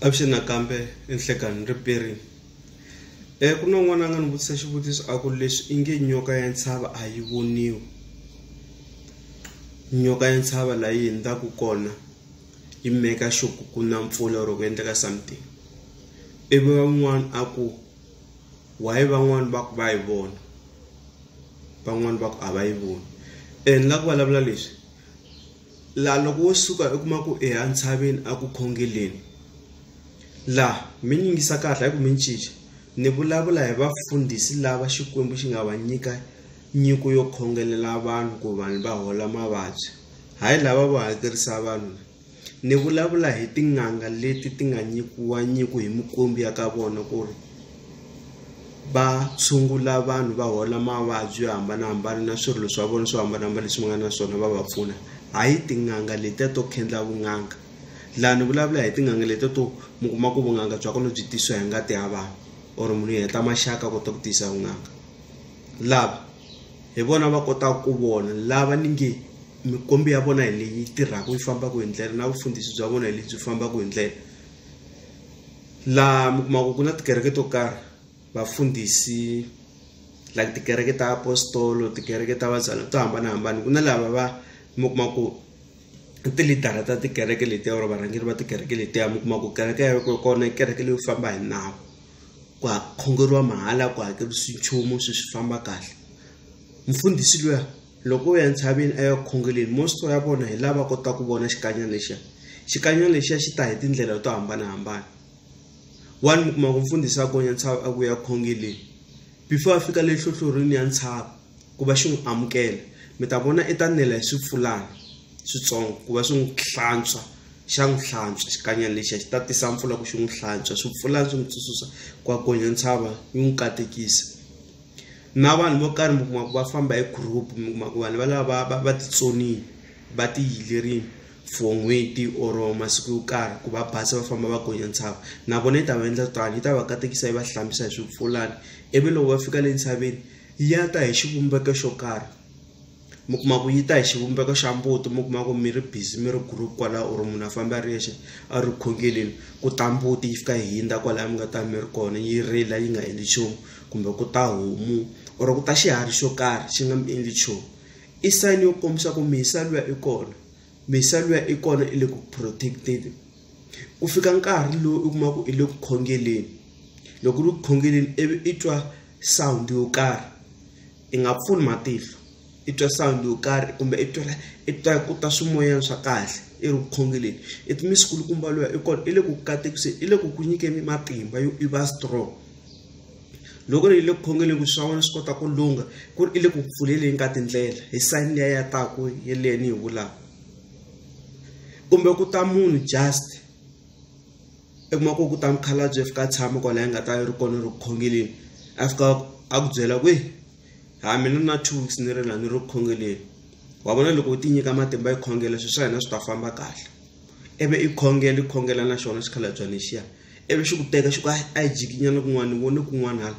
Avuxeni nakambe i nhlekani ni ri Barry e ku na n'wana a nga ni vutisa xivutiso a ku leswi i nge nyoka ya ntshava a yi voniwi nyoka ya ntshava la yi hundzaka kona yi meka xo ku ku na mpfula or ku endleka something ivi van'wana a ku why van'wani va ku va yi vona van'wani va ku a va yi voni and la ku vulavula leswi la loko wo suka u kuma ku eya ntshaveni a ku khongeleni la mi nyingisa kahle ku mi ncinca ni vulavula hi vafundhisi lava xikwembu xi nga va nyika nyiko yo khongelela vanhu ku vanhu va hola mavabyi hayi lava vo hakerisa vanhu ni vulavula hi tin'anga leti ti nga nyikiwa nyiko hi mikwembu ya ka vona ku ri va tshungula vanhu va hola mavabyi yo hambanahambana na swirilo swa vona swo hambanahambana leswi va nga na swona va va pfuna hayi tin'anga letiya to khendla vun'anga la ni vulavula hi tin'anga letiya to mi kuma ku vunanga bya kona byi tisiwa hi ngati ya vanhu or munhu u heta maxaka a kota ku tiyisa vunanga lava hi vona va kotaka ku vona lava ni nge mikwembu ya vona hi leyi tirhaka yi fambaka hi ndlela na vufundhisi bya vona hi lebyi fambaka hi ndlela. laha mi kuma ku ku na tikereke to karhi vafundhisi like tikereke ta apostolo tikereke ta vazalwa to hambanahambana ku na lava va mi kuma ku i tilidara ta tikereke letiya or varhangeri va tikereke letiya mi kuma ku kereke ya ko kona i kereke leyo famba hi nawu ku khongeriwa mahala ku hakerisiwi nchumu swi swi famba kahle mfundhisi luya. loko u ya entshaveni a ya ku khongeleni mosito ya vona hi lava kotaka ku vona xikanyana lexiya xikanyana lexiya xi ta hi tindlela to hambanahambana wani mi kuma ku mfundhisi a gonya ntshava a ku ya khongeleni before a fika le hlohlorini ya ntshava ku va xi n'wi amukela mi ta vona i ta nela hi swipfulana switsongo ku va swi n'wi hlantswa xa n'wi hlantswa xikanyana lexiya xi ta tisa mpfula ku xi n'wi hlantswa swipfulana swi n'wi tsutsusa ku a gonya ntshava yi n'wi katekisa na vanhu vo karhi mi kuma ku va famba hi group mi kuma ku vanhu valava va va titsonile va ti yilerile for n'hweti or masiku yo karhi ku va basa va famba va gonya ntshava na vona yi ta va endla tano yi ta va katekisa yi va hlambisa hi swipfulani ivi loko va fika le ntshaveni ya ta hi xivumbeko xo karhi. mi kuma ku yi ta hi xivumbeko xa mbuti mi kuma ku mi ri busy mi ri group kwala or munhu a famba a ri yexe a ri khongeleni ku ta mbuti yi fika yi hindza kwalaya mi nga ta mi ri kona yi rila yi nga endli nchumu kumbe ku ta homu or ku ta xiharhi xo karhi xi nga mi endli nchumu i sayini yo kombisa ku mhisa luya i kona mhisa luya i kona i le ku protect-eni ku fika nkarhi lowu u kuma ku i le ku khongeleni loko u ri ku khongeleni ivi i twa sound yo karhi. I nga pfuli matihlo i twa sound yo karhi kumbe i twela i twa ku ta swimoyeni swa kahle i ri vukhongeleni i ti misi kulukumba luya i kona i le ku katekiseni i le ku ku nyikeni matimba yo i va strong loko ri i le ku khongeleni ku swa wena swi kota ku lungha ku ri i le ku pfuleleni ka tindlela hi sayini liya ya taku yeleyo ni yi vulaka kumbe ku ta munhu just i kuma ku ku ta mukhalabye fika a tshama kwala yi nga ta yi ri kona ri ku khongeleni a fika a ku byela ku ha mina na two weeks ni ri la ni ri ku khongeleni wa vona loko u ti nyika matimba yi khongela swilo swa hina swi ta famba kahle ivi i khongela i khongela na xona xikhalabyana lexiya ivi xi ku teka xi ku a yi jikinyana kun'wana ni vone kun'wana hala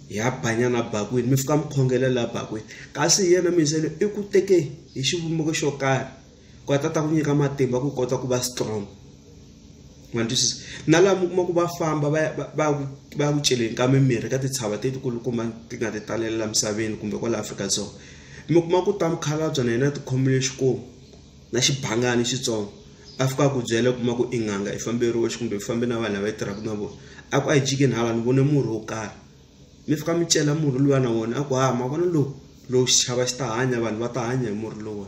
ya banyana bakwini mi fika mi khongela laha bakwini kasi hi yena mindzhelo i ku teke hi xivumbeko xo karhi ku a ta ta ku nyika matimba ku kota ku va strong ma twisisa na laha mi kuma ku va famba va ya va va ku celeni ka mimirhi ka titshava letikulukumba ti nga ti talela misaveni kumbe kwala Afrika-Dzonga mi kuma ku ta mukhalabye na yena ti khomile xikomu na xibangani xitsongo a fika a ku byela kuma ku i n'anga i famberiwe kumbe i fambe na vanhu lava yi tirhaka na vona a ku a yi jikeni hala ni vone murhi wo karhi mi fika mi cela murhi luya na wona a ku ha mavona lowu lowu xichava xi ta hanya vanhu va ta hanya hi murhi lowu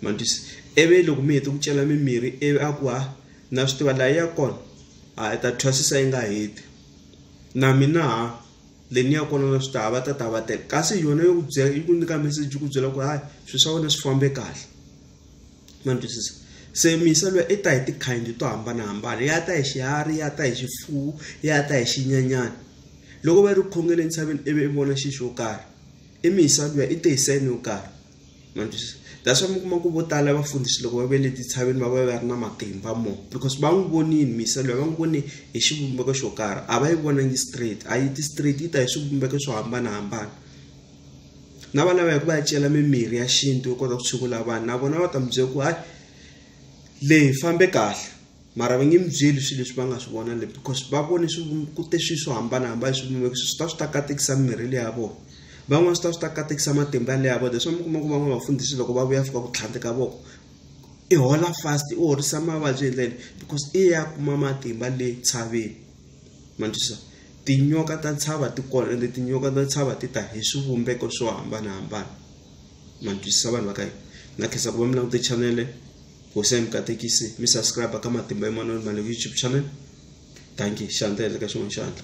ma twisisa ivi loko mi hete ku cela mimirhi ivi a ku ha na swi tiva laha ya kona a hi ta thwasisa yi nga heti na mina ha le ni ya kona na swi tiva va ta ta va tele kasi yona yo ku byela yi ku nyika meseji yi ku byela ku hayi swilo swa wena swi fambe kahle. ma ni twisisa se miyiselwa ya i ta hi tikhayini to hambanahambana ya ta hi xiharhi ya ta hi xifuwo ya ta hi xinyanyana loko va yi ri ku khongeni entshaveni ivi i vona xi xo karhi i miyisa luya i te hi seni yo karhi ma ni twisisa that's why mi kuma ku vo tala vafundhisi loko va ve le titshaveni va va va ri na matimba mo because va n'wi vonini miyisa luya va n'wi vone hi xivumbeko xo karhi a va yi vonangi straight a yi ti straight yi ta hi swivumbeko swo hambanahambana na vana va ya ku va ya cela mimirhi ya xintu yo kota ku tshungula vanhu na vona va ta mi byela ku hayi leyi fambe kahle mara va nge mi byeli swilo leswi va nga swi vona le because va vone swi ku te swilo swo hambanahambana swi kumeka swi ta swi ta katekisa mimirhi leyi ya vona van'wana swi ta swi ta katekisa matimba ya leyi ya vona leswi mi kuma ku van'wana vafundhisi loko va vuya fika ku tlhandleka voko i hola fast u horisa mavabyi hi ndlela leyi because i ya kuma matimba le tshaveni. ma ni twisisa tinyoka ta ntshava ti kona ende tinyoka ta ntshava ti ta hi swivumbeko swo hambanahambana ma ni twisisa vanhu va ka hina na khensa ku va mi langute chanele hosi ya mi katekisi mi subscribe ka matimba eman'wini ma le youtube channel danki xandla endla ka xin'wana xandla